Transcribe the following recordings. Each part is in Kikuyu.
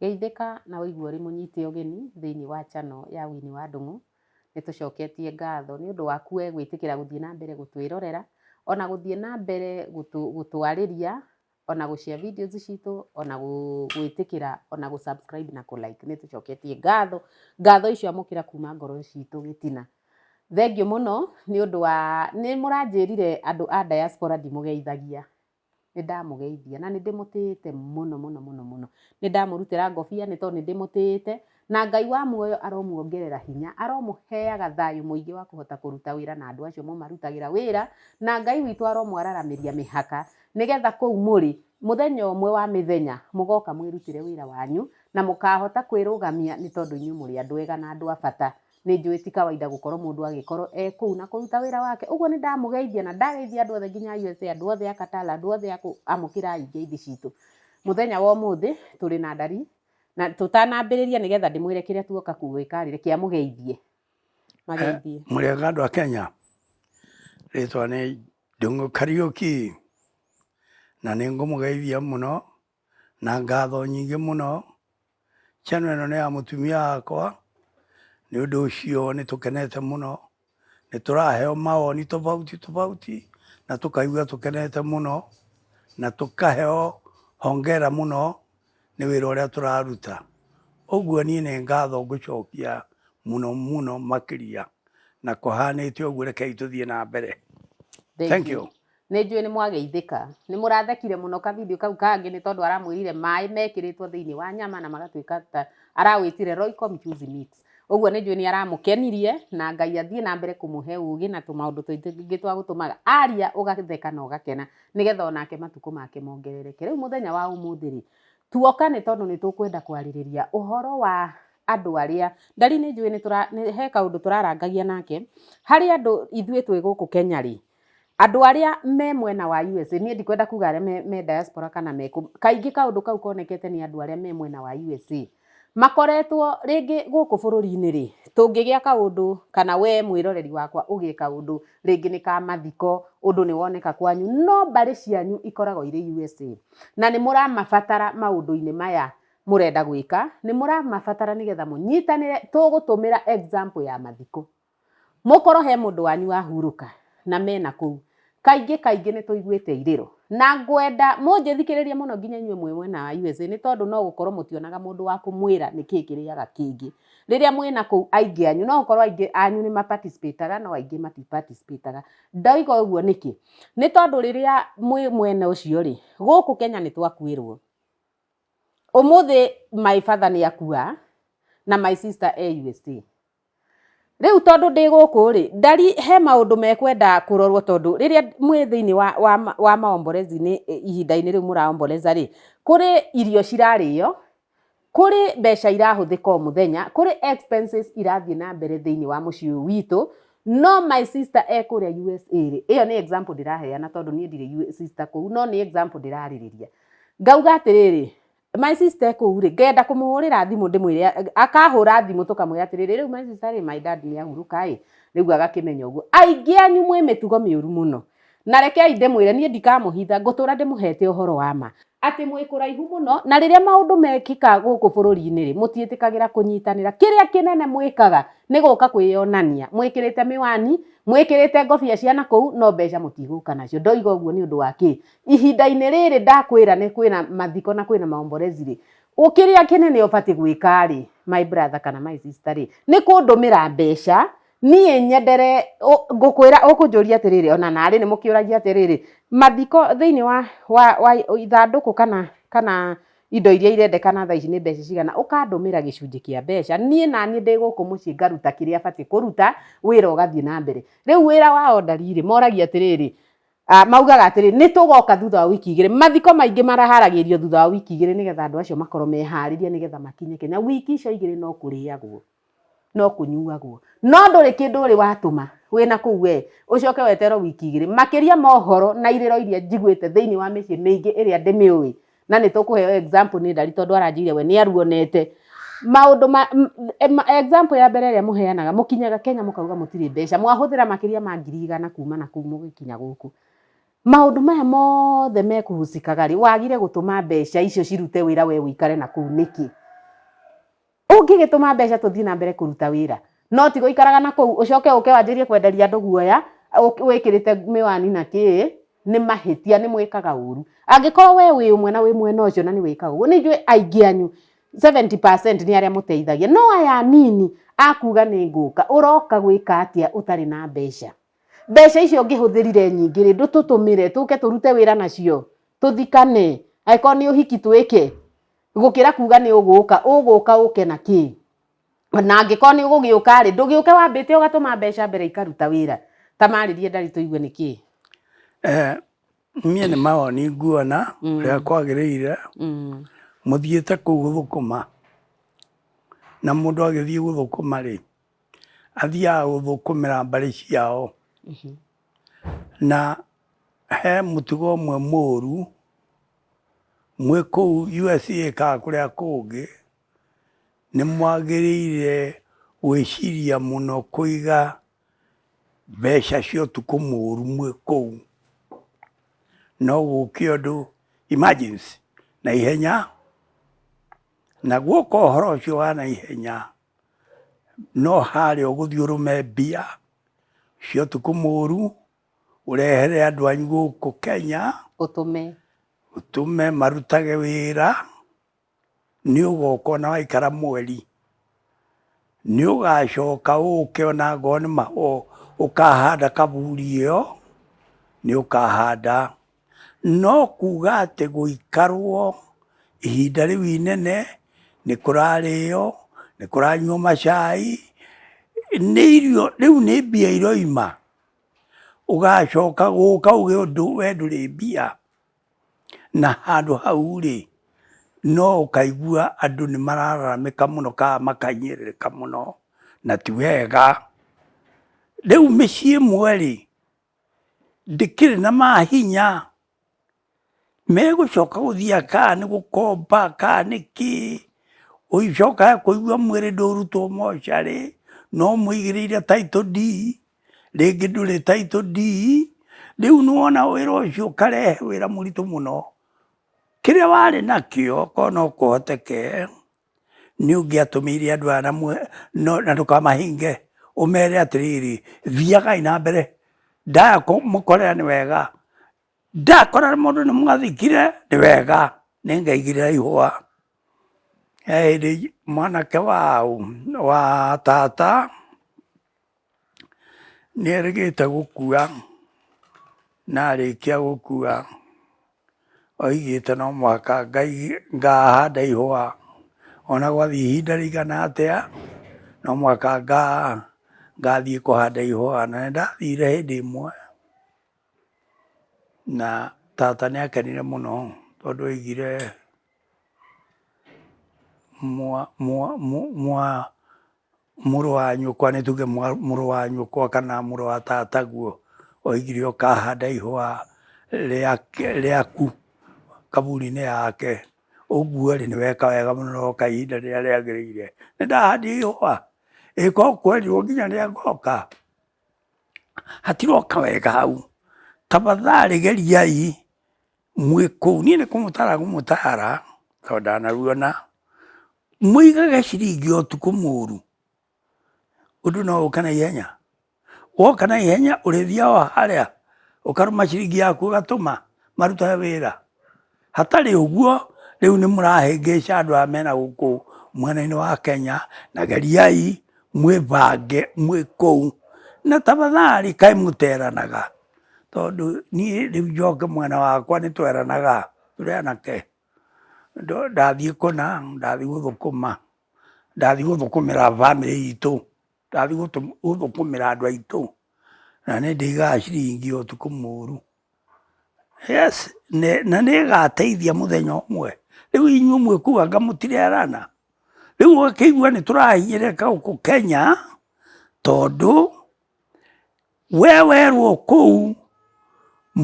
Geithĩka na ũigue ũrĩ mũnyite ũgeni thĩinĩ wa channel ya Winnie wa Ndũng'ũ. Nĩ tũcoketie ngatho nĩ ũndũ waku we gwĩtĩkĩra gũthiĩ na mbere gũtwĩrorera, o na gũthiĩ na mbere gũtwarĩria, o na gũ share videos citũ, o na gwĩtĩkĩra, o na gũ subscribe na kũ like. Nĩ tũcoketie ngatho. Ngatho icio amũkĩra kuuma ngoro citũ gĩtina. Thengiũ mũno nĩ ũndũ wa, nĩ mũranjĩrire andũ a diaspora ndimũgeithagia. nĩ ndamũgeithia na nĩ ndĩmũtĩĩte mũno mũno mũno mũno. Nĩ ndamũrutĩra ngobia nĩ tondũ nĩ ndĩmũtĩĩte, na Ngai wa muoyo aromuongerera hinya, aromũheaga thayũ mũingĩ wa kũhota kũruta wĩra na andũ acio mũmarutagĩra wĩra, na Ngai witũ aromwararamĩria mĩhaka, nĩgetha kũu mũrĩ, mũthenya ũmwe wa mĩthenya mũgoka mwĩrutĩre wĩra wanyu, na mũkahota kwĩrũgamia nĩ tondũ inyuĩ mũrĩ andũ ega na andũ a bata. Nĩ njũĩ ti kawaida gũkorwo mũndũ agĩkorwo e kũu na kũruta wĩra wake. Ũguo nĩ ndamũgeithia na ndageithia andũ othe nginya a USA, andũ othe a Qatar, andũ othe a kũu, amũkĩrai ngeithi citũ. Mũthenya wa ũmũthĩ tũrĩ na ndari, na tũtanambĩrĩria nĩ getha ndĩmwĩre kĩrĩa tuoka gwĩka-rĩ, reke amũgeithie. Mageithie. Mwega andũ a Kenya, rĩtwa nĩ Ndung'u Kariũki, na nĩ ngũmũgeithia mũno. na ngatho nyingĩ mũno. Channel ĩno nĩ ya mũtumia wakwa, nĩ ũndũ ũcio nĩ tũkenete mũno. Nĩ tũraheo mawoni tofauti tofauti na tũkaigua tũkenete mũno, na tũkaheo hongera mũno nĩ wĩra ũrĩa tũraruta. Ũguo niĩ nĩ ngatho ngũcokia mũno mũno makĩria, na kũhanĩte ũguo rekei tũthiĩ na mbere. Thengiũ. Nĩ njũĩ nĩ mwageithĩka. Nĩ mũrathekire mũno ka video kau kangĩ nĩ tondũ aramwĩrire maĩ mekĩrĩtwo thĩinĩ wa nyama na magatuĩka ta arawĩtire Royco mchuzi mix. Ũguo nĩ njũĩ nĩ aramũkenirie na Ngai athiĩ na mbere kũmũhe ũũgĩ na tũmaũndũ tũingĩ twa gũtũmaga aria ũgatheka na ũgakena nĩgetha onake matukũ make mongerereke. Rĩu mũthenya wa ũmũthĩ rĩ, tuoka nĩ tondũ nĩ tũkwenda kwarĩrĩria ũhoro wa andũ arĩa Ndari nĩ njũĩ nĩ tũra, nĩ he kaũndũ tũrarangagia nake. Harĩ andũ ithuĩ twĩ gũkũ Kenya rĩ, Andũ arĩa me mwena wa USA, niĩ ndikwenda kuga arĩa me, me diaspora kana me kũ- kaingĩ kaũndũ kau konekete nĩ andũ arĩa me mwena wa USA makoretwo rĩngĩ gũkũ bũrũri-inĩ rĩ, tũngĩgĩa kaũndũ kana we mwĩroreri wakwa ũgĩe kaũndũ rĩngĩ nĩ ka mathiko, ũndũ nĩ woneka kwanyu, no mbarĩ cianyu ikoragwo irĩ USA na nĩ mũramabatara maũndũ-inĩ maya mũrenda gwĩka, nĩ mũramabatara nĩgetha mũnyitanĩre, tũgũtũmĩra example ya mathiko. Mũkorwo he mũndũ wanyu wahurũka na mena kũu, kaingĩ kaingĩ nĩ tũiguĩte irĩro. Na ngwenda mũnjĩthikĩrĩrie mũno nginya inyuĩ mwĩ mwena wa USA nĩ tondũ no gũkorwo mũtionaga mũndũ wa kũmwĩra nĩ kĩĩ kĩrĩaga kĩngĩ. Rĩrĩa mwĩna kũu aingĩ anyu, no gũkorwo aingĩ anyu nĩ ma participate aga no aingĩ mati participate aga. Ndoiga ũguo nĩkĩ? Nĩ tondũ rĩrĩa mwĩ mwena ũcio rĩ, gũkũ Kenya nĩ twakuĩrwo. Ũmũthĩ my father nĩ akua na my sister e USA. Rĩu tondũ ndĩ gũkũ rĩ, ndari he maũndũ mekwenda kũrorwo tondũ rĩrĩa mwĩ thĩinĩ wa, wa, wa maomborezi-inĩ ihinda-inĩ rĩu mũraomboreza rĩ, kũrĩ irio cirarĩo, kũrĩ mbeca irahũthĩka o mũthenya, kũrĩ expenses irathiĩ na mbere thĩinĩ wa mũciĩ ũyũ witũ, no my sister e kũrĩa USA rĩ, ĩyo nĩ example ndĩraheana tondũ niĩ ndirĩ sister kũu, no nĩ example ndĩrarĩrĩria. ngauga atĩrĩrĩ my sister kuu rĩ ngenda kũmũhũrĩra thimũ ndĩmwĩre akahũra thimũ tũkamwĩra atĩrĩrĩ rĩu my sister rĩ my dad nĩ ahurũka ĩ rĩu agakĩmenya ũguo aingĩ anyu mwĩ mĩtugo mĩũru mũno na rekei ndĩmwĩre niĩ ndikamũhitha ngũtũra ndĩmũhete ũhoro wa ma atĩ mwĩ kũraihu mũno na rĩrĩa maũndũ mekĩka gũkũ bũrũri-inĩ rĩ mũtiĩtĩkagĩra kũnyitanĩra kĩrĩa kĩnene mwĩkaga nĩ gũka kwĩyonania mwĩkĩrĩte mĩwani mwĩkĩrĩte ngobia cia nakũu no mbeca mũtigũka nacio ndoiga ũguo nĩ ũndũ wa kĩ ihinda-inĩ rĩrĩ ndakwĩra nĩ kwĩna mathiko na kwĩna maomborezi rĩ ũkĩrĩa kĩnene ũbatiĩ gwĩka rĩ my brother kana my sister rĩ nĩ kũndũmĩra mbeca niĩ nyendere ngũkwĩra ũkũnjũria atĩrĩrĩ ona narĩ nĩ mũkĩũragia atĩrĩrĩ mathiko thĩinĩ wa wa wa ithandũkũ kana kana indo iria irendekana thaa ici nĩ mbeca cigana ũkandũmĩra gĩcunjĩ kĩa mbeca niĩ naniĩ ndĩ gũkũ mũciĩ ngaruta kĩrĩa batiĩ kũruta wĩra ũgathiĩ na mbere, rĩu wĩra wa ondarirĩ moragia atĩrĩrĩ Ah, maugaga atĩrĩ nĩ tũgoka thutha wa wiki igĩrĩ mathiko maingĩ maraharagĩrio thutha wa wiki igĩrĩ nĩgetha andũ acio makorwo meharĩria nĩgetha makinye kenya wiki icio igĩrĩ no kũrĩagwo no kũnyuagwo no ndũrĩ kĩndũ ũrĩ watũma wĩna kũu we ũcoke weterwo wiki igĩrĩ makĩria mohoro na irĩro iria njiguĩte thĩinĩ wa mĩciĩ mĩingĩ ĩrĩa ndĩmĩũĩ na nä tå kå heo example nä ndari tondå aranjire we nä aruonete maundu ma m- em- example ya mbere ĩrĩa mũheanaga mũkinyaga kenya mũkauga mũtirĩ mbeca mwahũthĩra makĩria ma ngiri igana kuma na kuu mũgĩkinya gũkũ maundu maya mothe mekuhucikaga rĩ wagire gũtũma mbeca icio cirute wĩra we ũikare na kuu nĩkĩ Ũngĩgĩtũma mbeca tũthiĩ na mbere kũruta wĩra, no ti gũikaraga na kũu ũcoke ũke wanjĩrie kwenderia andũ guoya wĩkĩrĩte mĩwani na kĩĩ, nĩ mahĩtia, nĩ mwĩkaga ũru. Angĩkorwo we wĩ ũmwe na wĩ mwena ũcio na nĩ wĩkaga ũguo, nĩ njũĩ aingĩ anyu seventy percent nĩ arĩa mũteithagia. No aya anini a kuuga nĩ ngũka, ũroka gwĩka atĩa ũtarĩ na mbeca? Mbeca icio ũngĩhũthĩrire nyingĩ rĩ, ndũtũtũmĩre tũke tũrute wĩra nacio, tũthikane, angĩkorwo nĩ ũhiki twĩke, gũkĩra kuga nĩ ũgũka ũgũka ũke na kĩ na angĩkorwo nĩ ũgũgĩũka rĩ ndũgĩũke wambĩte ũgatũma mbeca mbere ikaruta wĩra ta marĩrie ndari tũigue nĩ kĩ Eh, niĩ nĩ mawoni nguona rĩa kwagĩrĩire Mm, mũthiĩte kũu gũthũkũma na mũndũ agĩthiĩ gũthũkũma rĩ athiaga gũthũkũmĩra mbarĩ ciao Na he mũtugo ũmwe mũru, mwĩ kũu USA kana kũrĩa kũngĩ, nĩ mwagĩrĩire gwĩciria mũno kũiga mbeca cia ũtukũ mũru mwĩ kũu, no gũke ũndũ emergency naihenya, na guoka ũhoro ũcio wa naihenya, no harĩa ũgũthiĩ ũrũme mbia cia ũtukũ mũru ũrehere andũ anyu gũkũ Kenya ũtũme ũtũme marutage wĩra nĩ ũgoka ona waikara mweri nĩ ũgacoka ũke ona ngoo nĩ ũkahanda kaburi ĩyo nĩ ũkahanda No kuga atĩ gũikarwo ihinda rĩu inene, nĩ kũrarĩo, nĩ kũranyuo macai, nĩ irio, rĩu nĩ mbia iroima, ũgacoka gũka uge ũndũ we ndũrĩ mbia, na handũ hau rĩ, no ũkaigua andũ nĩ marararamĩka mũno ka makahinyĩrĩrĩka mũno, na ti wega. Rĩu mĩciĩ ĩmwe rĩ, ndĩkĩrĩ na mahinya megũcoka gũthiĩ kaa nĩ gũkomba kaa nĩ kĩ ũicoka kũigua mwĩrĩ ndũrutwo mocarĩ no mũigĩrĩire title deed rĩngĩ ndũrĩ title deed rĩu nĩwona wĩra ũcio ũkarehe wĩra mũritũ mũno kĩrĩa warĩ nakĩo korwo no kũhoteke nĩ ũngĩatũmĩire andũ aya na ndũkamahinge ũmere atĩrĩrĩ thiagai na mbere ndaya kũmũkorera nĩ wega ndakora mũndũ nĩ mwathikire nĩ wega nĩ ngaigire ihũa he hĩndĩ mwanake wa wa tata nĩ erĩgĩte gũkua na arĩkia gũkua oigĩte no mũhaka ngahanda ihũa ona gwathiĩ ihinda rĩigana atĩa no mũhaka ngathiĩ kũhanda ihũa. Na nĩ ndathire hĩndĩ ĩmwe na tata nĩ akenire mũno tondũ oigire Mũrũ wa nyũkwa, nĩ tuge mũrũ wa nyũkwa kana mũrũ wa tataguo, oigire ũkahanda ihũa rĩaku kaburi-inĩ yake, ũguo rĩ, nĩ weka wega mũno na woka ihinda rĩrĩa rĩagĩrĩire. Nĩ ndahandire ihũa, ĩ korwo kwerirwo nginya rĩa ngoka, hatiroka wega hau. Tafadhalĩ geriai mwĩ kũu. Niĩ nĩ kũmũtara ngũmũtara tondũ ndanaruona. mũigaga ciringi o tukũ mũru ũndũ no ũka na ihenya woka na ihenya ũrĩthia wa harĩa ũkarũma ciringi yaku ũgatũma maruta wĩra hatarĩ ũguo rĩu nĩ mũrahĩngĩca andũ aya mena gũkũ mwena-inĩ wa Kenya na geriai mwĩbange mwĩ kũu na tafadhali kaĩ mũteranaga tondũ niĩ rĩu njoke mwena wakwa nĩ tweranaga tũrĩ anake. ndathiĩ kũna, ndathiĩ gũthũkũma, ndathiĩ gũthũkũmĩra bamĩrĩ itũ, ndathiĩ gũthũkũmĩra andũ aitũ, na nĩ ndĩigaga ciringi ũtukũ mũru. Yes, na nĩ ĩgateithia mũthenya ũmwe. Rĩu inyuĩ mwĩkuaga mũtirerana? Rĩu ũgakĩigua nĩ tũrahinyĩrĩrĩka gũkũ Kenya tondũ we werwo kũu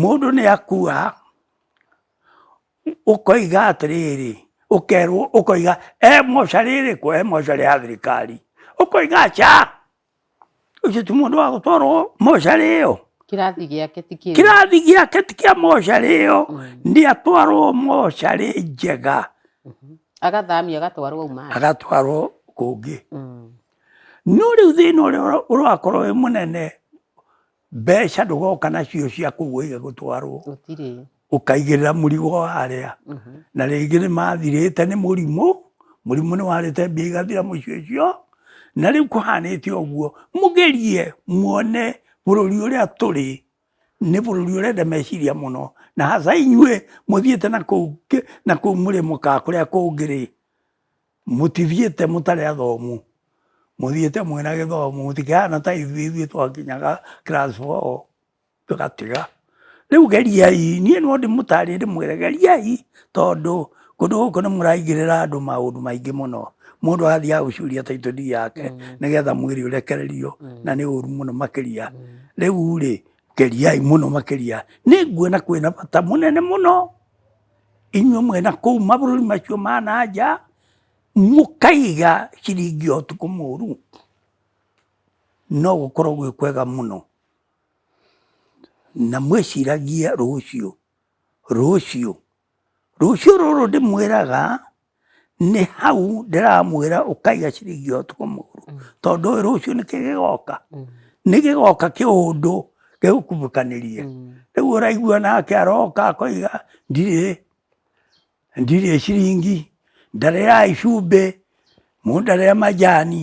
mũndũ nĩ akua. ũkoiga atĩrĩrĩ ũkerwo ũkoiga e moca rĩrĩkũ e moca rĩa thirikari ũkoiga aca ũcio ti mũndũ wa gũtwarwo moca rĩyo kĩrathi gĩake ti kĩu kĩrathi gĩake ti kĩa moca rĩyo mm. nĩ atwarwo moca rĩ njega mm-hmm. agathamio agatwarwo uma agatwarwo kũngĩ mm. no rĩu thĩna ũrĩa ũrakorwo wĩ mũnene mbeca ndũgoka nacio cia kũgũiga gũtwarwo gũtirĩ ũkaigĩrĩra mũrigo wa arĩa Mhm. na rĩngĩ nĩ mathirĩte nĩ mũrimũ mũrimũ nĩ warĩte mbia igathira mũico ũcio na rĩu kũhanĩte ũguo mũgerie muone bũrũri ũrĩa tũrĩ nĩ bũrũri ũrenda meciria mũno na haca inyuĩ mũthiĩte na kũu kĩ- na kũu mũrĩ mũkaa kũrĩa kũngĩrĩ Mũtithiĩte mũtarĩ athomu, mũthiĩte mwĩna gĩthomo, mũtikĩhana ta ithuĩ, ithuĩ twakinyaga class four tũgatiga. Rĩu geriai, niĩ no ndĩmũtarĩrie ndĩmwĩre geriai tondũ kũndũ gũkũ nĩ mũraingĩrĩra andũ maũndũ maingĩ mũno. Mũndũ athiaga gũcuria title deed yake nĩgetha mwĩrĩ ũrekererio na nĩ ũru mũno makĩria. Rĩu rĩ, geriai mũno makĩria. Nĩ nguona kwĩna bata mũnene mũno. inyuĩ mwĩna kũu mabũrũri macio ma na nja mũkaiga ciringi o tukũ mũru no gũkorwo gwĩ kwega mũno na mwĩciragie rũciũ rũciũ rũciũ rũrũ ndĩmwĩraga nĩ hau ndĩramwĩra ũkaiga ciringi ĩyo tũkũ mũgũrũ mm. tondũ ũyũ rũciũ nĩkĩ gĩgoka mm. nĩ gĩgoka kĩũndũ gĩgũkumbũkanĩrie mm. rĩu ũraigua nake aroka akoiga ndirĩ ndirĩ ciringi ndarĩra icumbĩ mũndarĩra majani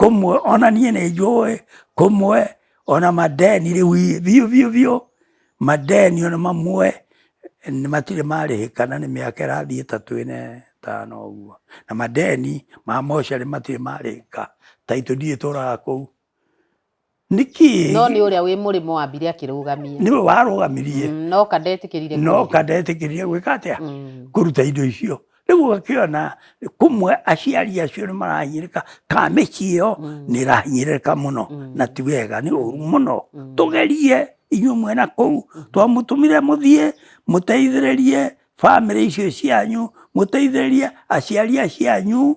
kũmwe ona niĩ nĩ njũĩ kũmwe ona madeni rĩu biũ biũ biũ madeni ona mamwe matirĩ marĩhĩka na nĩ mĩaka ĩrathiĩ ta twĩne tano ũguo na madeni ma mocarĩ matirĩ marĩhĩka taitũ ndiĩ tũraga kũu nĩ kĩĩ no nĩ ũrĩa wĩ mũrĩmo wambire akĩrũgamia nĩwe warũgamirie Mm, no kandetĩkĩrire no kũrĩha. kandetĩkĩria gwĩka atĩa Mm, kũruta indo icio rĩu ũgakĩona kumwe aciari acio nĩ marahinyĩrĩka ka mĩciĩ ĩyo nĩ ĩrahinyĩrĩka mũno na ti wega nĩ ũru mũno tũgerie inyuĩ mwena kũu twamũtũmire mũthiĩ mũteithĩrĩrie bamĩrĩ icio cianyu mũteithĩrĩrie aciari acianyu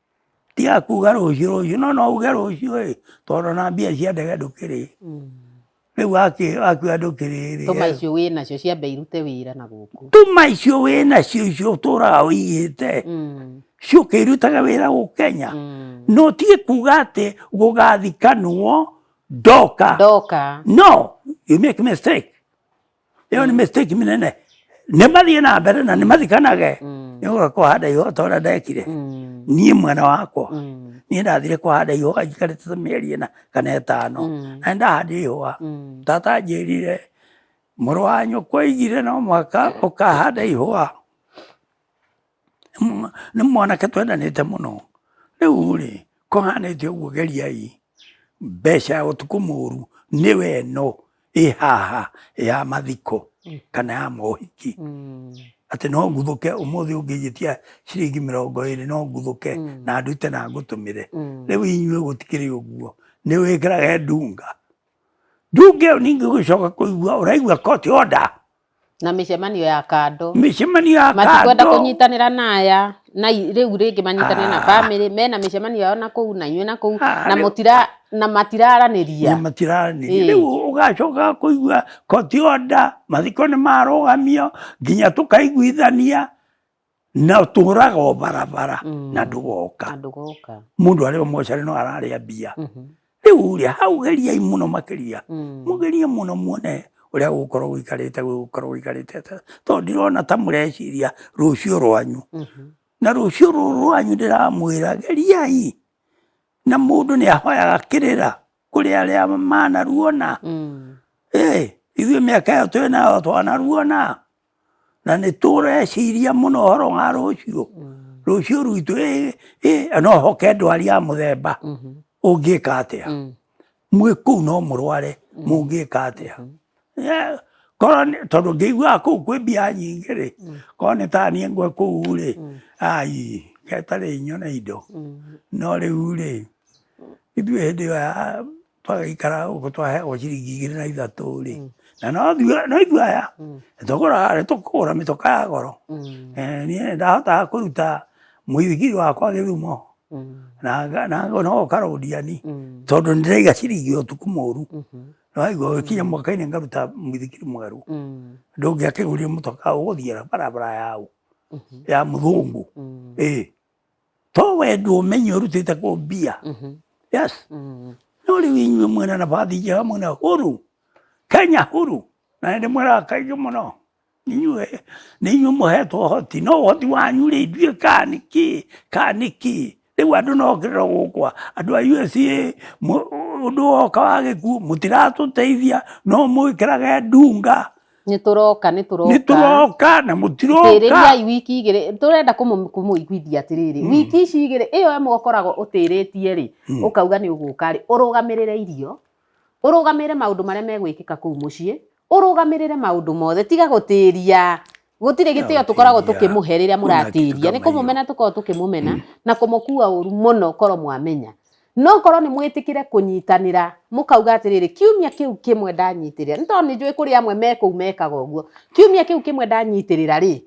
Tiga kuga rũciũ rũciũ no no uge rũciũ ĩ tondũ ona mbia cia ndege ndũkĩrĩ rĩu wakĩ- wakiuga ndũkĩrĩ rĩ tũma icio wĩ nacio ciambe irute wĩra na gũkũ tuma icio wĩ nacio icio ũtũraga ũigĩte Mm, ciũke irutaga wĩra gũ Kenya mm. no tiga kuga atĩ gũgathikanwo ndoka ndoka no you make mistake ĩyo nĩ mistake mĩnene nĩ mathiĩ na mbere na nĩ mathikanage mm. nĩ ũga kũhanda ihũa ta ũrĩa ndekire mm. niĩ mwana wakwa mm. niĩ ndathire kũhanda ihũa njikarĩte ta mĩeri ĩna kana ĩtano na nĩ ndahandire ihũa tata anjĩrire mũrũ wa nyũkwa aigire no mwaka ũkahanda ihũa nĩ mwanake twendanĩte mũno rĩu rĩ kũhanĩte ũguo geriai mbeca ya ũtukũ mũru nĩwe ĩno ĩ haha ya mathiko mm. kana ya mohiki mm. atĩ no nguthũke ũmũthĩ ũngĩnjĩtia ciringi mĩrongo ĩrĩ no nguthũke mm. na ndute na ngũtũmĩre rĩu inyuĩ gũtikĩrĩ ũguo nĩ wĩkĩrage ndunga ndunga ĩyo ningĩ gũcoka kũigua ũraigua koti oda na mĩcemanio ya kando mĩcemanio ya matikwenda kando kũnyitanĩra na aya na i- rĩu rĩngĩ manyitanĩre na Ah. bamĩrĩ mena mĩcemanio yao na kũu na inyuĩ na kũu Ah, na rĩu- mũtira na matiraranĩria na matiraranĩria Ĩĩ. rĩu ũgacoka kũigua koti onda mathiko nĩ marũgamio nginya tũkaiguithania na tũraga o barabara mm. na ndũgoka mũndũ arĩ o mocarĩ no ararĩa mbia mm-hmm. rĩu rĩ hau geriai mũno makĩria mm. mũgerie mũno muone ũrĩa gũkorwo gũikarĩte gũkorwo gũikarĩte tondũ ndirona ta mũreciria rũciũ rwanyu mm-hmm. na rũciũ rũrũ rwanyu ndĩramwĩra geriai na mũndũ nĩ ahoyaga kĩrĩra kũrĩ arĩa manaruona mm. ithuĩ mĩaka ĩyo twĩ nayo twanaruona Na nĩ tũreciria mũno ũhoro wa rũciũ rũciũ rwitũ ĩ- ĩ- ĩ, no hoke ndwari ya mũthemba ũngĩka atĩa mwĩ kũu no mũrware mũngĩka atĩa Eh, korwo nĩ- tondũ ngĩiguaga kũu kwĩ mbia nyingĩ rĩ korwo nĩ ta niĩ ngwe kũu rĩ ai getarĩ nyone indo no rĩu rĩ ithuĩ hĩndĩ ĩyo ya twagĩikara ũguo twahe o ciringi igĩrĩ na ithatũ rĩ mm. na no ithuĩ- no ithuĩ aya Mm. tũgũra harĩ tũkũgũra mĩtoka ya goro Mm. Eh, niĩ ndahotaga kũruta mũithikiri wakwa gĩthumo Mm. na nga- na ngo- no karũndiani Mm. tondũ ndĩraiga ciringi ya ũtukũ mũru Mhm. naigua gũkinya mwaka-inĩ ngaruta mũithikiri mwerũ Mm. ndũngĩakĩgũrire mũtoka ũgũthiĩra barabara yau Mhm. ya mũthũngũ Mm. ĩ to we ndu umenye urutite ku mbia mhm. yes mm. no riu inyue mwina na bathi njega mwina huru kenya huru na ndi mwira kaingi muno inyue ni inyue muhetwo hoti no hoti wanyu ri ndue kani ki kani ki riu andu no kirira gukwa andu a USA undu woka wa gikuo mutiratuteithia no mwikirage ndunga nĩ tũroka nĩ tũroka nĩ tũroka na mũtiroka tĩrĩriai wiki igĩrĩ tũrenda kũmũiguithia atĩrĩrĩ mm. wiki ici igĩrĩ ĩyo ĩmwe ũkoragwo ũtĩrĩtie rĩ mm. ũkauga nĩ ũgũka rĩ ũrũgamĩrĩre irio ũrũgamĩrĩre maũndũ marĩa megwĩkĩka kũu mũciĩ ũrũgamĩrĩre maũndũ mothe tiga gũtĩria gutire gitio tukoragwo tukimuhe riria muratiria ni kumumena tukoragwo tukimumena mm. na kumukua uru muno koro mwamenya No ngorwo nĩ mwĩtĩkĩre kũnyitanĩra, mũkauga atĩrĩrĩ, kiumia kĩu kĩmwe ndanyitĩrĩra, nĩ tondũ nĩ njũĩ kũrĩ amwe me kũu mekaga ũguo, kiumia kĩu kĩmwe ndanyitĩrĩra rĩ,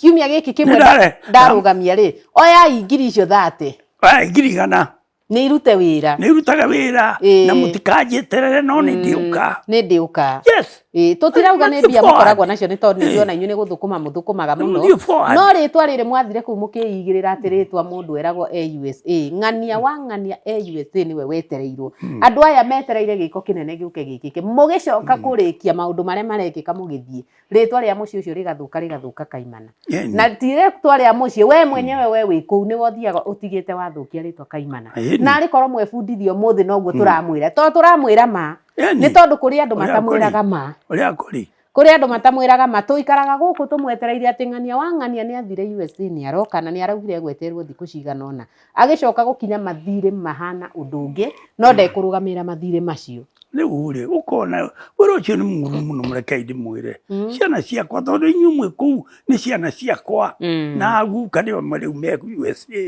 kiumia gĩkĩ kĩmwe Nĩndare- ndarũgamia rĩ, oyai ngiri icio thate Aya, ngiri igana nĩ irute wĩra nä irutage wä ra Ĩĩ. na må tikanjä terere no nä ndä å ka nĩ ndĩũka yes Ĩĩ, tũtirauga nĩ mbia mũkoragwo nacio nĩ tondũ nĩndiona inyuĩ nĩ gũthũkũma mũthũkũmaga mũno Ndio forward. no rĩtwa rĩrĩ mwathire kũu mũkĩigĩrĩra atĩ rĩtwa mũndũ eragwo e USA ng'ania wa ng'ania e USA nĩwe wetereirwo andũ aya metereire gĩko kĩnene gĩũke gĩkĩke mũgĩcoka kũrĩkia maũndũ marĩa marekĩka mũgĩthiĩ rĩtwa rĩa mũciĩ ũcio rĩgathũka rĩgathũka kaimana Yeah, na ti rĩtwa rĩa mũciĩ we mwenyewe we wĩ kũu nĩwe ũthiaga ũtigĩte wathũkia rĩtwa kaimana Ĩĩ. na arĩ korwo mwebundithia ũmũthĩ noguo tũramwĩra to tũramwĩra ma nĩ tondũ kũrĩ andũ matamwĩraga ma ũrĩa kũrĩ kũrĩ andũ matamwĩraga ma tũikaraga gũkũ tũmwetereire atĩ ng'ania wa ng'ania nĩ athire USA nĩ aroka na nĩ araugire egweterwo thikũ cigana ona agĩcoka gũkinya mathirĩ mahana ũndũ ũngĩ no hmm. ndekũrũgamĩrĩra mathirĩ macio rĩu rĩ ũkona wĩra ũcio nĩ mũru mũno mũrekei ndĩmwĩre hmm. ciana ciakwa tondũ inyuĩ mwĩ kũu nĩ ciana ciakwa hmm. na guka nĩo rĩu me USA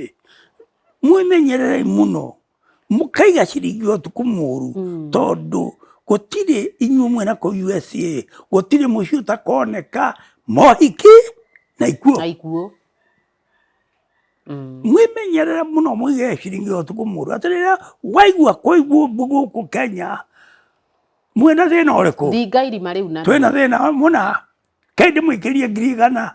mwĩmenyererei mũno mũkaiga ciringi ũtukũ mũru mm. tondũ gũtirĩ inyuĩ mwena kũ USA gũtirĩ mũciĩ ũtakoneka mohiki na ikuo na ikuo mm. mwimenyerere muno mwige ciringi ũtukũ mũru atĩ rĩrĩa waigua kũigua ũmbu gũkũ Kenya mwena thĩna ũrĩkũ thinga irima rĩu na twĩna thĩna mũna kaĩ ndĩmũikĩrie ngiri igana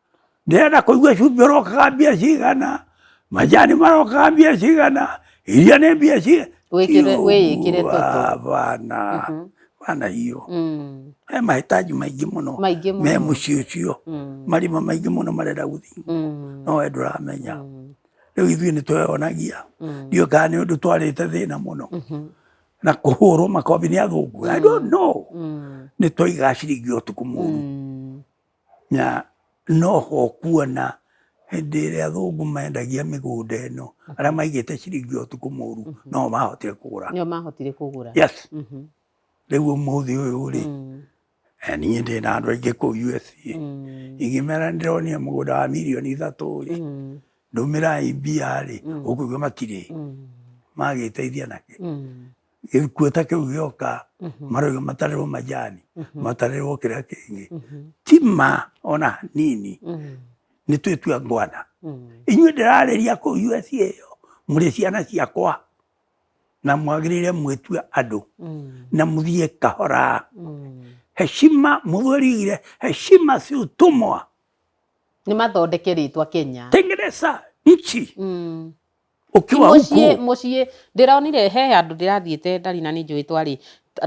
ndĩrenda kũigua cumbĩ ũrokaga mbia cigana majani marokaga mbia cigana iria nĩ mbia cigana wĩyĩkĩre bana bana hiyo mm. he mahĩtanji maingĩ mũno me mũciĩ ũcio mm. marima maingĩ mũno marenda gũthiĩ mm. no we ndũramenya rĩu ithuĩ nĩ tweyonagia ndiũ kana nĩ ũndũ twarĩte thĩna mũno mm-hmm. na kũhũrwo makobi nĩ athũngũ i don't know nĩ twaigacirĩngio ũtukũ mũru Na no ho ũkuona hĩndĩ ĩrĩa athũngũ mendagia mĩgũnda ĩno, arĩa maigĩte ciringi ũtukũ mũru no mahotire kũgũra. Nĩo mahotire kũgũra. Yes. Rĩu ũmũthĩ ũyũ rĩ, niĩ ndĩ na andũ aingĩ kũu USA, ingĩmera nĩ ndĩronire mũgũnda wa mirioni ithatũ rĩ, ndũmĩrai mbia rĩ, ũkũigua matirĩ. Magĩteithia na kĩ? gĩkuo ta kĩu gĩoka mhm. marauga matarĩrwo majani mhm. matarĩrwo kĩrĩa kĩngĩ mhm. ti ma ona hanini nĩ twĩtua ngwana inyuĩ ndĩrarĩria kũu usa ĩyo mũrĩ ciana ciakwa na mwagĩrĩire mwĩtue andũ na mũthiĩ kahora heshima mũthũrigire heshima si utumwa nĩ mathondeke rĩtwa kenya tengeneza nchi mm. ukiwa huko muciĩ muciĩ ndĩronire he handũ ndĩrathiĩte ndari na nĩ njũĩ twarĩ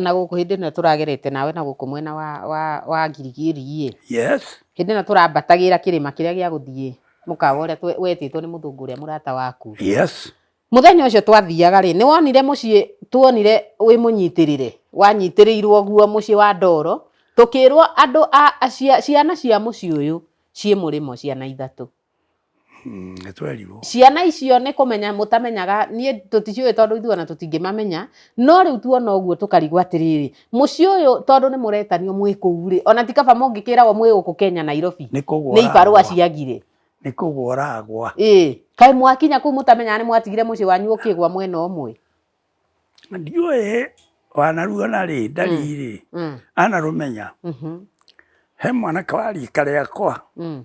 na gũkũ hĩndĩ ĩno tũragerete nawe na gũkũ mwena wa wa wa ngirigiri yes hĩndĩ ĩno tũrambatagĩra kĩrĩma kĩrĩa gĩa gũthiĩ mũkawa ũrĩa twe- wetĩtwo nĩ mũthũngũ ũrĩa mũrata waku yes mũthenya ũcio twathiaga rĩ nĩ wonire mũciĩ tuonire wĩ mũnyitĩrĩre wanyitĩrĩirwo guo mũciĩ wa ndoro tũkĩrwo andũ a a- cia- ciana cia mũciĩ ũyũ ciĩ mũrĩmo ciana ithatũ Mm, nĩ twerirwo ciana icio nĩ kũmenya mũtamenyaga niĩ tũticiũĩ tondũ ithuĩ ona tũtingĩmamenya no rĩu tuona ũguo tũkarigwo atĩrĩrĩ mũciĩ ũyũ tondũ nĩ mũretanio mwĩ kũu rĩ ona ti kaba mũngĩkĩragwo mwĩ gũkũ kenya nairobi nĩ kũgwa nĩ ibarũa ũragwa. ciagire nĩ kũgwa ũragwa ĩ kaĩ mwakinya kũu mũtamenyaga nĩ mwatigire mũciĩ wanyu ũkĩgwa mwena ũmwe ndiũĩ wanaruo na rĩ ndarĩ-rĩ Mm, anarũmenya mhm, he mwanake wariĩ karĩa kwa mm,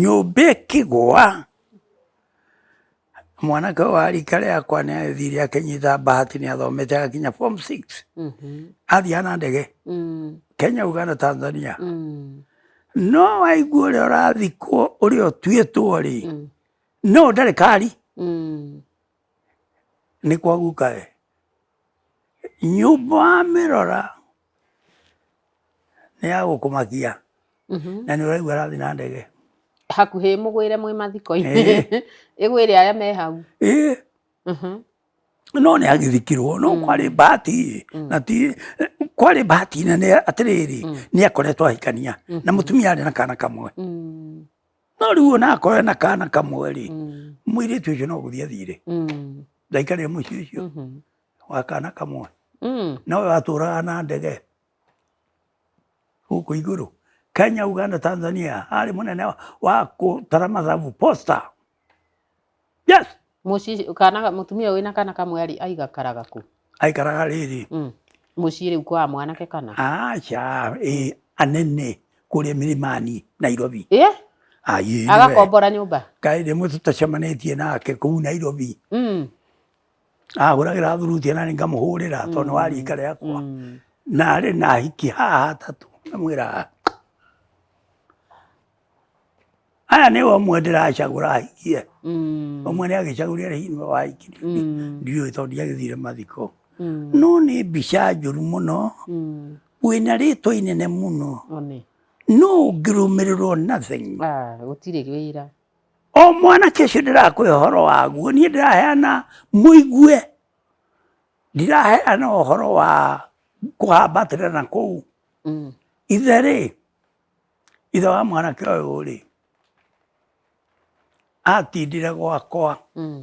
Nyũmba ĩkĩgwa, mwanake ũyũ wa rika rĩakwa nĩ athire akĩnyita bahati nĩ athomete agakinya form six athiaga na ndege Kenya, Uganda, Tanzania no waigua ũrĩa ũrathikwo ũrĩa ũtuĩtwo rĩ no ndarĩ kari nĩ kwa guka we nyũmba wamĩrora nĩ ya gũkũmakia na nĩ ũraigua arathiĩ na ndege hakuhĩ mũgwĩre mwĩ mathiko-inĩ Eh. ĩgwĩre arĩa me hau Ĩĩ, Mhm. no nĩ agithikirwo no kwarĩ bahati na ti kwarĩ bahati nene atĩrĩrĩ nĩ akoretwo ahikania na mũtumia arĩ na kana kamwe Mm, no rĩu ona akore na kana kamwe rĩ mm, mũirĩtu ũcio no gũthiĩ athire mm, ndaikarire mũciĩ ũcio mhm. wa kana kamwe mm. nawe watũraga na ndege gũkũ igũrũ Kenya, Uganda, Tanzania arĩ mũnene wa kũtara mathabu posta yes muci kana mutumia wina kana kamwe ari aigakaraga ku aikaraga rĩrĩ mm. muci riu kwa mwanake kana acha ĩ anene kũrĩa mirimani Nairobi eh agakombora nyũmba kaĩ rĩmwe tũtacemanĩtie nake kũu Nairobi mm. agũragĩra thuruti nani ngamũhũrĩra tondũ nĩ wa rika rĩakwa narĩ na ahiki haha atatũ ngamwĩra aya nĩ ũmwe ndĩracagũra ahikie ũmwe nĩ agĩcagũrire hihi nĩ wahiki ndiũĩ tondũ ndiagĩthire mathiko no nĩ mbica njũru mũno wĩna rĩtwa inene mũno no ũngĩrũmĩrĩrwo nothing gũtirĩ wĩra O mwanake ũcio ndĩrakwĩra ũhoro waguo, niĩ ndĩraheana mũigue, ndiraheana ũhoro wa kũhambatĩra na kũu. Mm. Ithe rĩ, ithe wa mwanake ũyũ rĩ, atindire gwakwa. Mm.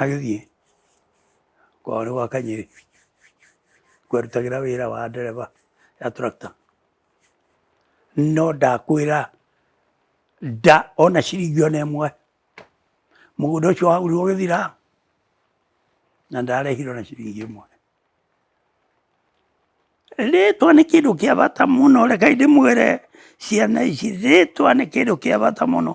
Agĩthiĩ kwao nĩ gwa Kanyĩrĩ kwerutagĩra wĩra wa ndereba ya tractor. No ndakwĩra nda ona ciringi ona ĩmwe mũgũnda ũcio wagũrirwo gĩthira na ndarehire ona ciringi ĩmwe. Rĩtwa nĩ kĩndũ kĩa bata mũno reke ndĩmwĩre ciana ici rĩtwa nĩ kĩndũ kĩa bata mũno.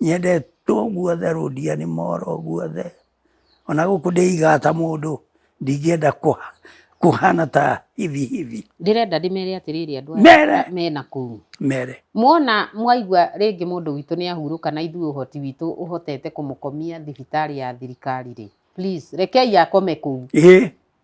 nyendetwo guothe rũndiani moro guothe, ona gũkũ ndĩigaga ta mũndũ ndingĩenda kũhana ta hivi hivi. Ndĩrenda ndĩmere atĩrĩrĩ andũ aya mena kũu, mere muona mwaigua rĩngĩ mũndũ witũ nĩ ahurũka na ithuĩ ũhoti witũ ũhotete kũmũkomia thibitarĩ ya thirikari rĩ, please rekei akome kũu.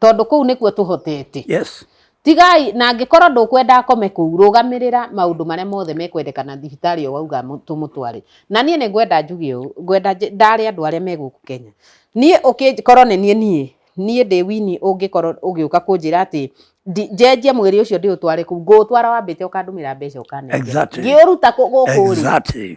tondå kå u nä kuo tå hotete yes tigai na angĩkorwo ndũkwenda akome kũu rũgamĩrĩra maũndũ marĩa mothe mekwendekana thibitarĩ o wauga mũ- tũmũtware na niĩ nĩ ngwenda njuge ũũ ngwenda nje- ndare andũ arĩa me gũkũ kenya niĩ ũkĩkorwo nĩ niĩ niĩ niĩ ndĩ wini ũngĩkorwo ũgĩũka kũnjĩra atĩ ndi- njenjie mwĩrĩ ũcio ndĩũtware kũu ngũũtwara wambĩte ũkandũmĩra mbeca ũkanengera Exactly. ngĩũruta kũ- gũkũ rĩ exactly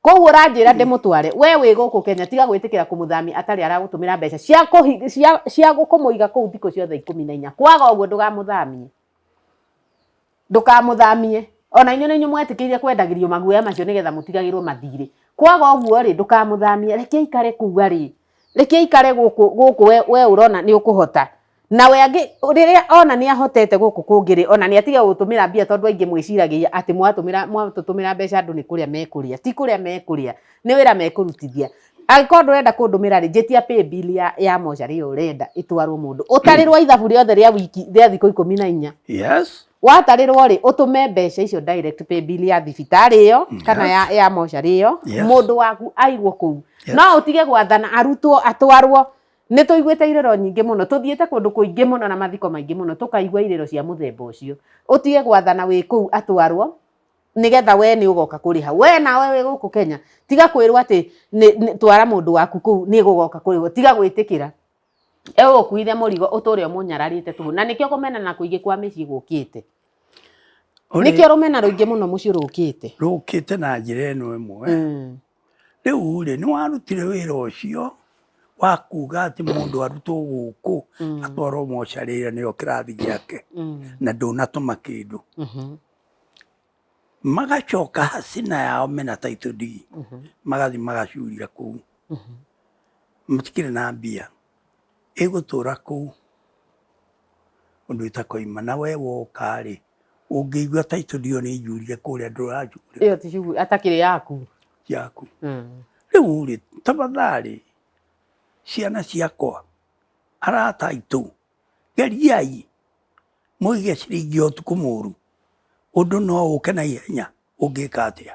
koguo ũranjĩra ndĩmũtware we wĩ gũkũ kenya tiga gwĩtĩkĩra kũmũthamia atarĩ aragũtũmĩra mbeca cia kũhi- cia- cia kũmũiga kũu thikũ ciothe ikũmi na inya kwaga ũguo ndũgamũthamie ndũkamũthamie ona inyuĩ nĩ inyuĩ mwetĩkĩire kwendagĩrio maguoya macio nĩgetha mũtigagĩrwo mathirĩ kwaga ũguo rĩ ndũkamũthamie reke ikare kũu arĩ reke ikare gũkũ gũkũ we- we ũrona nĩ ũkũhota Nawe angĩ rĩrĩa ona nĩ ahotete gũkũ kũngĩrĩ ona nĩ atige gũtũmĩra mbia tondũ aingĩ mwĩciragia atĩ mwatũmĩra mwatũtũmĩra mbeca andũ nĩ kũrĩa mekũrĩa ti kũrĩa mekũrĩa nĩ wĩra mekũrutithia angĩkorwo ndũrenda kũndũmĩra rĩ njĩtia paybill ya ya mocarĩ ĩyo ũrenda ĩtwarwo mũndũ ũtarĩrwo ithabu rĩothe rĩa wiki rĩa thikũ ikũmi na inya yes watarĩrwo rĩ ũtũme mbeca icio direct paybill ya thibitarĩ ĩyo kana ya ya mocarĩ ĩyo Yes. mũndũ waku aigwo kũu Yes. no ũtige gwathana arutwo atwarwo Nĩ tũiguĩte irĩro nyingĩ mũno, tũthiĩte kũndũ kũingĩ mũno na mathiko maingĩ mũno, tũkaigua irĩro cia mũthemba ũcio. Ũtige gwathana wĩ kũu atwarwo, nĩgetha we nĩ ũgoka kũrĩha. We nawe wĩ gũkũ Kenya, tiga kwĩrwo atĩ twara mũndũ waku kũu nĩ gũgoka kũrĩhwo, tiga gwĩtĩkĩra egũkuithe mũrigo ũtũre ũmũnyararĩte tũhũ. Na nĩkĩo kũmena na kũingĩ kwa mĩciĩ gũkĩte. Nĩkĩo rũmena rũingĩ mũno mũciĩ rũkĩte. Rũkĩte na njĩra ĩno ĩmwe. Mm. rĩu-rĩ, nĩwarutire wĩra ũcio wa kuga atĩ mũndũ arutwo gũkũ atwarwo mocarĩ ĩyo nĩyo kĩrathi gĩake na ndũnatũma kĩndũ. Magacoka hacina yao mena title deed magathiĩ magacurira kũu, matikĩrĩ na mbia, ĩgũtũra kũu. ũndũ itakoima na we woka-rĩ ũngĩigua title deed ĩyo nĩ njurire kũrĩa ndũranjurĩra ĩyo ti shughuli atakĩrĩ yaku yaku Mm. rĩu-rĩ tafadhalĩ ciana ciakwa arata aitũ geriai mũige ciringi ya ũtukũ mũru ũndũ no ũke na ihenya ũngĩka atĩa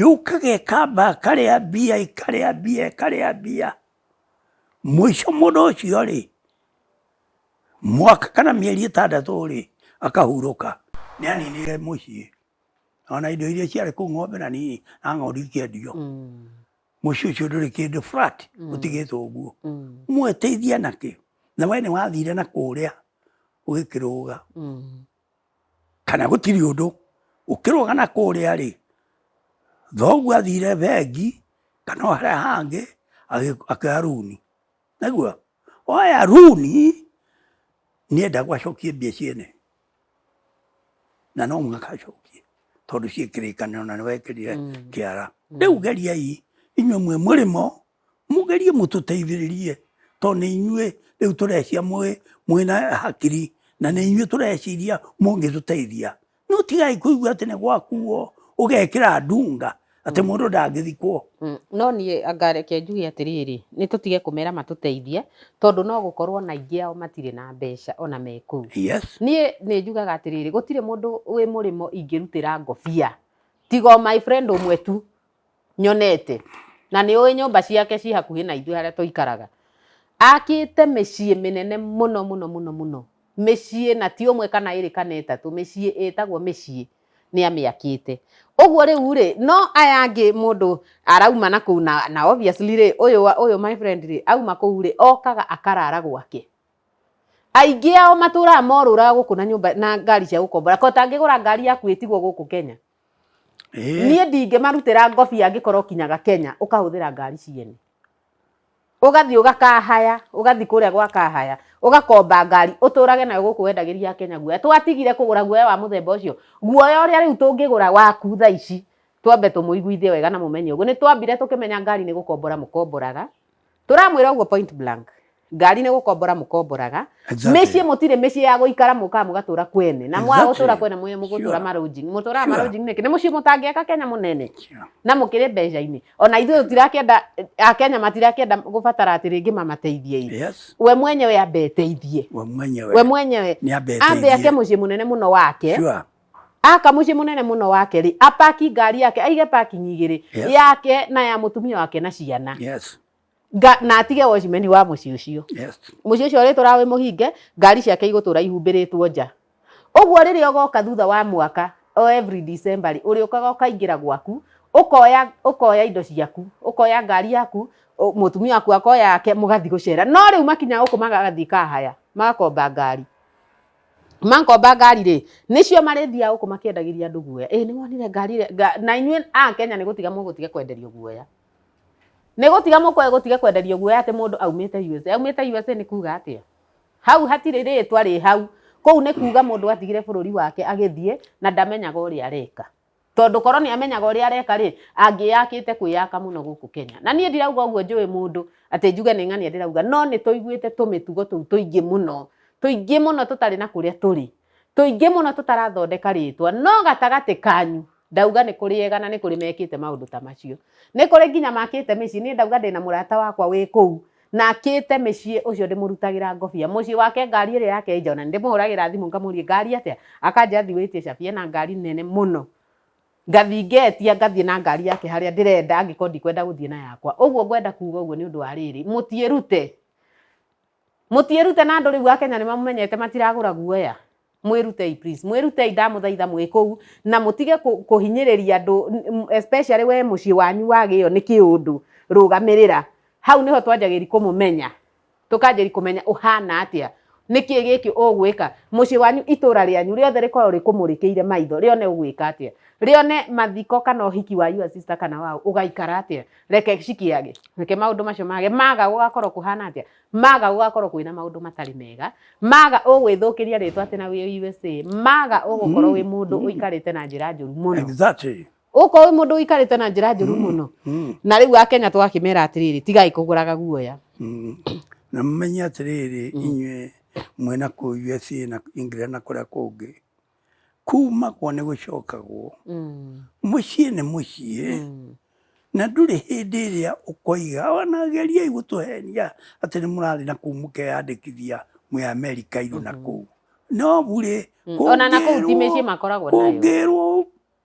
yũkaga ĩkamba ĩkarĩa mbia ĩkarĩa mbia ĩkarĩa mbia mũico mũndũ ũcio rĩ mwaka kana mĩeri ĩtandatũ rĩ akahurũka nĩ aninire mũciĩ ona indo iria ciarĩ kũu ng'ombe na nini na ng'ondu ikĩendio mm. mũciĩ ũcio ndũrĩ kĩndũ flat mm. ũtigĩtwo ũguo mm. mwĩteithia nakĩ na we nĩ wathire na kũrĩa ũgĩkĩrũga kana gũtirĩ ũndũ, ũkĩrũga na kũrĩa rĩ, thoguo athire bengi kana o harĩa hangĩ akĩoya rũni, nĩaigua? Oya rũni nĩendagwo acokie mbia ciene, na no mũhaka acokie tondũ ciĩ kĩrĩkanĩro na nĩwekĩrire kĩara. Rĩu geriai inyuĩ mwĩ mũrĩmo Mũgerie mũtũteithĩrĩrie tondũ nĩ inyuĩ rĩu tũrecia mwĩna hakiri na nĩ inyuĩ tũreciria mũngĩtũteithia. No tigai kũigua atĩ nĩ gwakuo ũgekĩra ndunga atĩ mm. mũndũ ndangĩthikwo. Mm. No niĩ ngareke njuge atĩrĩrĩ, nĩ tũtige kũmera matũteithie tondũ no gũkorwo na ingĩ ao matirĩ na mbeca ona me kũu. Niĩ nĩ njugaga atĩrĩrĩ, gũtirĩ mũndũ wĩ mũrĩmo ingĩrutĩra ngobia tiga o my friend ũmwe tu nyonete, na nĩ ũĩ nyũmba ciake ciĩ hakuhĩ na ithuĩ harĩa tũikaraga. Akĩte mĩciĩ mĩnene mũno mũno mũno mũno, mĩciĩ na ti ũmwe kana ĩrĩ kana ĩtatũ, mĩciĩ ĩtagwo mĩciĩ nĩ amĩakĩte. Ũguo rĩu rĩ, no aya angĩ mũndũ arauma na kũu na, na obviously rĩ, ũyũ wa, ũyũ my friend rĩ, auma kũu rĩ, okaga akarara gwake. Aingĩ ao matũraga morũraga gũkũ na nyũmba, na ngari cia gũkombora, kaĩ ũtangĩgũra ngari yaku ĩtigwo gũkũ Kenya? Eh. niä ndingä marutĩra ngobi angĩkorwo kinyaga kenya ũkahũthĩra ngari ciene ũgathiĩ ũgakahaya ũgathiĩ kũrĩa gwakahaya ũgakomba ngari ũtũrage nayo gũkũ wendagĩria kenya guoya twatigire kũgũra guoya wa mũthemba ũcio guoya ũrĩa rĩu tũngĩgũra waku tha ici twambe tũmũiguithie wega na mũmenye ũguo nĩ twambire tũkĩmenya ngari nĩ gũkombora mũkomboraga Tũramwĩra ũguo point blank. Ngari nĩ gũkombora mũkomboraga. Exactly. Mĩciĩ mũtirĩ mĩciĩ ya gũikara mũkaga mũgatũra kwene. Na mwaga Exactly. gũtũra kwene mũye mũgũtũra Sure. marũnji. Mũtũraga Sure. marũnji nĩkĩ? Nĩ mũciĩ mũtangĩaka Kenya mũnene. Yeah. na mũkĩrĩ mbeca-inĩ ona ithuĩ tũtirakĩenda akenya matirakĩenda gũbatara atĩ rĩngĩ mamateithie ĩ Yes. we mwenyewe ambe eteithie We mwenyewe. we mwenyewe Nĩ ambe ambe ake eteithie. mũciĩ mũnene mũno wake Sure. Aka mũciĩ mũnene mũno wake rĩ, apaki ngari yake, aige parking igĩrĩ Yes. yake na ya mũtumia wake na ciana Yes. Nga, na atige wacimeni wa mũciĩ ũcio Yes. mũciĩ ũcio ũrĩtũra wĩ mũhinge ngari ciake igũtũra ihumbĩrĩtwo nja ũguo rĩrĩa ũgoka thutha wa mwaka o every December rĩ ũrĩũkaga ũkaingĩra gwaku ũkoya ũkoya indo ciaku ũkoya ngari yaku ũ- mũtumia waku akoya yake mũgathiĩ gũcera no rĩu makinya gũkũ magathiĩ kahaya magakomba ngari Mankomba ngari rĩ, nĩcio marĩthiaga gũkũ makĩendagĩria andũ guoya. Ĩĩ nĩ wonire ngari ĩrĩa, na inyuĩ a Kenya nĩ gũtiga mũgũtiga kwenderio guoya. Nĩ gũtiga mũgũtiga kwenderio guoya atĩ mũndũ aumĩte USA. Aumĩte USA nĩ kuuga atĩa? Hau hatirĩ rĩtwa rĩ hau. Kũu nĩ kuuga mũndũ atigire bũrũri wake agĩthiĩ na ndamenyaga ũrĩa areka. Tondũ korwo nĩ amenyaga ũrĩa areka rĩ, angĩyakĩte kwĩyaka mũno gũkũ Kenya. Na niĩ ndirauga ũguo njũĩ mũndũ atĩ njuge nĩ ng'ania ndĩrauga, no nĩ tũiguĩte tũmĩtugo tũu tũingĩ mũno, tũingĩ mũno tũtarĩ na kũrĩa tũrĩ, tũingĩ mũno tũtarathondeka rĩtwa. No gatagatĩ kanyu ndauga nĩ kũrĩ ega na nĩ kũrĩ mekĩte maũndũ ta macio. Nĩ kũrĩ nginya makĩte mĩciĩ. Niĩ ndauga ndĩna mũrata wakwa wĩ kũu na akĩte mĩciĩ ũcio ndĩmũrutagĩra ngobia mũciĩ wake ngari ĩrĩa yake njona ndĩmũhũragĩra thimũ ngamũria ngari atĩa akanjĩra thiĩ wĩtie cabi ena ngari nene mũno ngathiĩ ngetia ngathiĩ na ngari yake harĩa ndĩrenda angĩkorwo ndikwenda gũthiĩ na yakwa ũguo ngwenda kuga ũguo nĩ ũndũ wa rĩrĩ mũtiĩrute mũtiĩrute na andũ rĩu a Kenya nĩ mamũmenyete matiragũra guoya mwĩrutei please mwĩrutei ndamũthaitha mwĩ kũu na mũtige kũ- kũhinyĩrĩria andũ n- m- especially we mũciĩ wanyu wagĩo nĩ kĩũndũ rũgamĩrĩra hau nĩho twanjagĩri kũmũmenya tũkanjĩri kũmenya ũhana atĩa nĩkĩ gĩkĩ ũgwĩka mũciĩ wanyu itũra rĩanyu rĩothe rĩkorwo rĩkũmũrĩkĩire maitho rĩone ũgwĩka atĩa rĩone mathiko kana ũhiki wa your sister kana wao ũgaikara atĩa reke cikĩage reke maũndũ macio mage maga gũgakorwo kũhana atĩa Maga gũgakorwo kwĩna maũndũ matarĩ mega, maga ũgwĩthũkĩria rĩtwa atĩ na wĩ USA, maga ũgũkorwo wĩ mũndũ ũikarĩte na njĩra njũru mũno. Exactly. Ũgũkorwo wĩ mũndũ ũikarĩte na njĩra njũru mũno. Mm. Na rĩu Akenya tũgakĩmera atĩrĩrĩ, tigai kũgũraga guoya. Mm. Na mũmenye atĩrĩrĩ, inyuĩ mwĩna kũu USA na England na kũrĩa kũngĩ, kumagwo nĩ gũcokagwo mm. mũciĩ nĩ mũciĩ mm. na ndũrĩ hĩndĩ ĩrĩa ũkoiga ona geriai gũtũhenia atĩ nĩ mũrathiĩ na kũu mũkeyandĩkithia mwĩ amerika iru na mm-hmm. kũu no burĩ mm. kũngĩrwo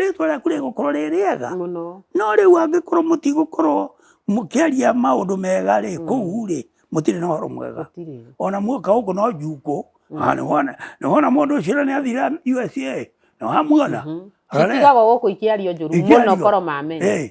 rĩtwa rĩaku rĩgũkorwo rĩ rĩega mũno no rĩu angĩkorwo mũtigũkorwo mũkĩaria maũndũ mega rĩ Mm. kũu rĩ mũtirĩ na ũhoro mwega gũtirĩ ona muoka gũkũ no njukũ Mm. Ah, nĩwona nĩwona mũndũ ũcio ũrĩa nĩathira usa nĩwamuona Mhm. Arare. citigago gũkũ ikiario njũru Ikiario. mũno koro mamenya Eh,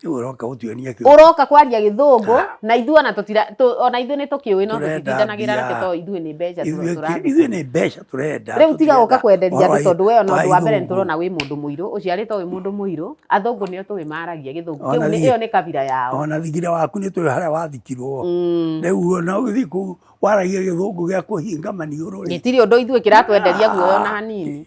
Rĩu ũroka gũtuonia kĩũndũ. ũroka kwaria gĩthũngũ Ah. na ithuĩ ona tũtira tũ- ona ithuĩ nĩ tũkĩũĩ no Tũrenda tũtitindanagĩra nake mbia. tondũ ithuĩ nĩ mbeca tu Ithuĩ- tũrathiĩ Ithuĩ nĩ mbeca tũrenda. rĩu tiga gũka tũtirenda kwenderia ũhoro andũ wa- tondũ we ona wa ũndũ wa mbere nĩ ithũngũ. tũrona wĩ mũndũ mũirũ ũciarĩtwo wĩ mũndũ mũirũ athũngũ nĩo tũĩ maragia gĩthũngũ Ona kĩu nĩ- niĩ- ĩyo nĩ kabira yao Ona thigire waku nĩ tũĩ harĩa wathikirwo. Mm. Rĩu ona ũgĩthiĩ kũu waragia gĩthũngũ gĩa kũhinga maniũrũ rĩ. gĩtirĩ ũndũ ithuĩ kĩratwenderia guoya ona hanini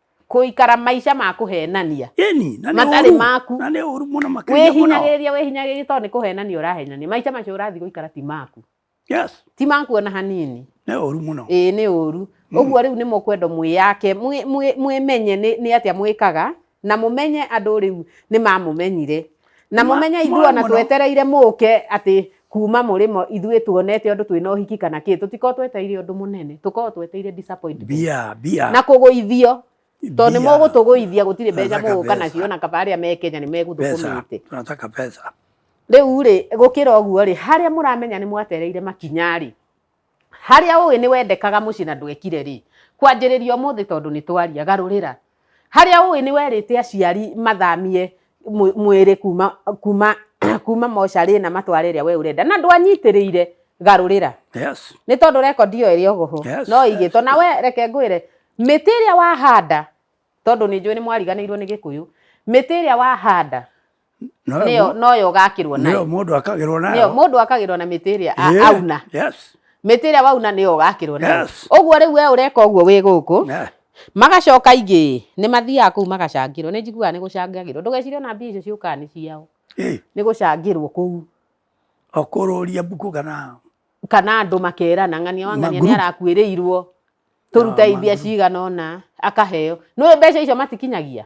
kuikara maica ma kuhenania eni na nä matarĩ ũru. maku na nä å ru må no makĩria må no wĩhinyagĩrĩria wĩhinyagĩrĩria tondũ nĩ kũhenania ũrahenania maica macio ũrathiĩ gũikara ti maku yes ti maku ona hanini nä å ru må no ĩĩ nĩ ũru ũguo rĩu nĩ mũkwenda mwĩyake mwĩ- mwĩ- mwĩmenye nĩ nĩ atĩa mwĩkaga na mũmenye andũ rĩu nĩ mamũmenyire na Mwa- mũmenye ithuĩ mwa- ona mũno. twetereire mũke atĩ kuma mũrĩmo ithuĩ tuonete ũndũ twĩna ũhiki kana kĩ tũtikorwo twetereire ũndũ mũnene tũkorwo twetereire disappointment mbia mbia na kũgũithio tondũ nĩ mbia. mũgũtũgũithia gũtirĩ mbeca Nataka mũgũka pesa. nacio na kaba arĩa me Kenya nĩ pesa megũthũkũmĩte tunataka pesa rĩu rĩ gũkĩra ũguo rĩ harĩa mũramenya nĩ mwatereire makinya rĩ Harĩa ũĩ nĩ wendekaga mũciĩ na ndwekire rĩ, kwanjĩrĩria ũmũthĩ tondũ nĩ twaria, garũrĩra. Harĩa ũĩ nĩ werĩte aciari mathamie mwĩrĩ kuma, kuma, kuma mocarĩ na matware ĩrĩa we ũrenda na ndwanyitĩrĩire, garũrĩra. Yes. Nĩ tondũ rekondi ĩyo ĩrĩ oho Yes, no yes. ĩigĩtwo. Na we reke ngwĩre, mĩtĩ ĩrĩa wahanda, tondũ nĩ njũĩ nĩ mwariganĩirwo nĩ Gĩkũyũ, mĩtĩ ĩrĩa wahanda nĩyo noyo ũgakĩrwo nayo nĩyo mũndũ akagĩrwo nayo nĩyo mũndũ akagĩrwo na mĩtĩ ĩrĩa auna yes mĩtĩ ĩrĩa wauna nĩyo ũgakĩrwo nayo yes. ũguo rĩu we ũreka ũguo wĩ gũkũ yeah. magacoka ingĩ nĩ mathiaga kũu magacangĩrwo nĩ njiguaga nĩ gũcangagĩrwo ndũgecirie ona mbia icio ciũkaga nĩ ciao nĩ gũcangĩrwo kũu okũrũria mbuku kana kana andũ makerana ng'ania wa ng'ania nĩ arakuĩrĩirwo tũruta imbia cigana ũna akaheo nĩ mbeca icio matikinyagia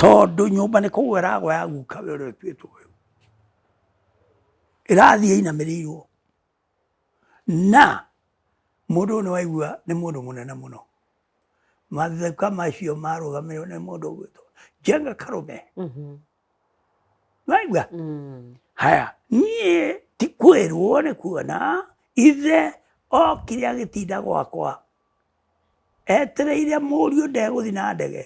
tondũ nyũmba nĩ kũgwa ĩragwa ya guka we ũrĩa ũtuĩtwo ũyũ ĩrathiĩ inamĩrĩirwo na mũndũ ũyũ nĩ waigua nĩ mũndũ mũnene mũno matheka macio marũgamĩrĩrwo nĩ mũndũ ũgwĩtwo njenga karũme Mhm. waigua Mm. haya niĩ ti kwĩrwo nĩ kuona ithe okire agĩtinda gwakwa Etereire mũriũ ndegũthiĩ na ndege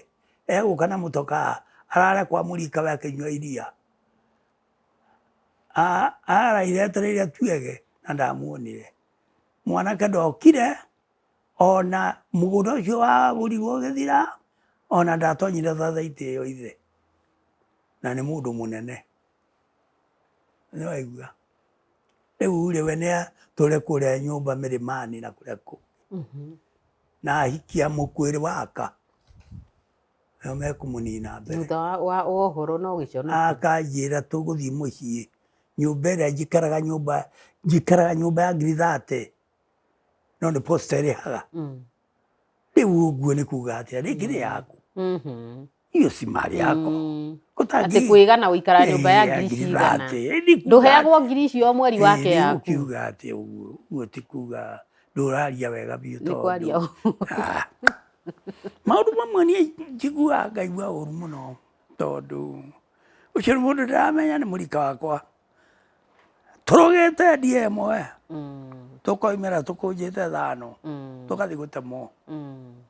egũka na mũtokaa arare kwa mũrika we akĩnyua iria araire etereire tuege na ndamuonire mwanake ndokire ona mũgũnda ũcio wagũrirwo ũgĩthira ona ndatonyire thathaitĩ ĩyo ithe na nĩ mũndũ mũnene. Nĩ waigua? Rĩu rĩ we nĩ atũre kũrĩa nyũmba mĩrĩmani na kũrĩa kũ mhm. na ahikia mũkwĩrĩ waka nĩo mekũmũnina mbere. Thutha wa ũhoro no gĩcono. Akanjĩra tũgũthiĩ mũciĩ nyũmba ĩrĩa njikaraga nyũmba njikaraga nyũmba ya ngiri thate no nĩ posta ĩrĩhaga. Mm. Rĩu ũguo nĩ kuga atĩa rĩngĩ nĩ yaku. Mm-hmm. iyo si mali yako Mm. Gũtangĩ- Atĩ kwĩga na gũikara nyũmba ya Eh, ngiri ngiri cigana. thate. Eh, ni kuga- Ndũheagwo ngiri icio o mweri wake Eh, rĩu yaku. ũkiuga atĩ ũguo ũguo ti kuga ndũraria wega biũ Nĩ kwaria tondũ Ah. maũndũ mamwe niĩ njiguaga ngaigua ũru mũno tondũ ũcio nĩ mũndũ ndaramenya nĩ mũrika wakwa tũrũgĩte ndie ĩmwe Mm, tũkoimĩra tũkũnjĩte thano mm, tũgathiĩ gũtemwo mm.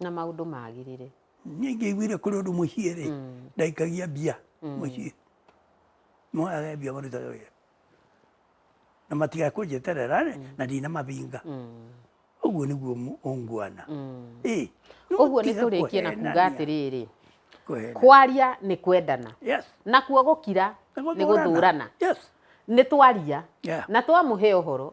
na maundu magirire niä ingä iguire kå rä å ndå må ciä rä Mm. ndaikagia mbia må ciä moyaga mbia maruta wä ra na matigakå njeterera rä na ndina mabinga Mm. å guo nä guo å nguana Mm. ä Ũguo nĩ tũrĩkie na kuga atĩrĩrĩ kwaria nĩ kwendana nakuo gũkira nĩ gũthũrana nĩ twaria Yeah. na twamũhe ũhoro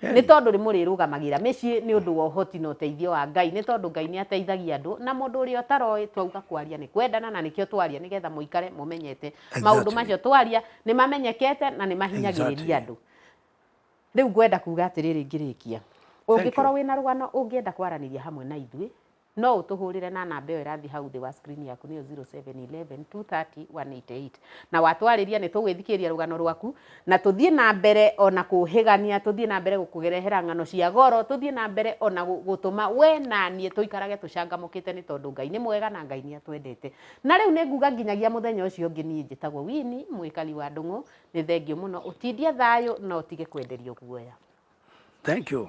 Hey. nĩ tondũ rĩ mũrĩrũgamagĩra mĩciĩ nĩ ũndũ wa ũhoti na ũteithio wa ngai nĩ tondũ ngai nĩ ateithagia andũ na mũndũ ũrĩa ũtaroĩ twauga kwaria nĩ kwendana na nĩkĩo twaria nĩgetha mũikare mũmenyete Exactly. maũndũ macio twaria nĩ mamenyekete na nĩ mahinyagĩrĩria Exactly. andũ rĩu ngwenda kuga atĩrĩrĩ ngĩrĩkia ũngĩkorwo wĩna rũgano ũngĩenda kwaranĩria hamwe na ithuĩ No ũtũhũrĩre na namba ĩyo ĩrathiĩ hau thĩ wa screen yaku nĩyo 0711230188. Na watwarĩria nĩ tũgwĩthikĩrĩria rũgano rwaku na tũthiĩ na mbere o na kũũhĩgania, tũthiĩ na mbere gũkũrehera ng'ano cia goro, tũthiĩ na mbere o na gũtũma we na niĩ tũikarage tũcangamũkĩte nĩ tondũ Ngai nĩ mwega na Ngai nĩ atwendete. Na rĩu nĩ nguga nginyagia mũthenya ũcio ũngĩ niĩ njĩtagwo Winnie mũikari wa Ndũng'ũ. Nĩ thengiũ mũno. Ũtindie thayũ na ũtige kwenderio guoya. Thank you.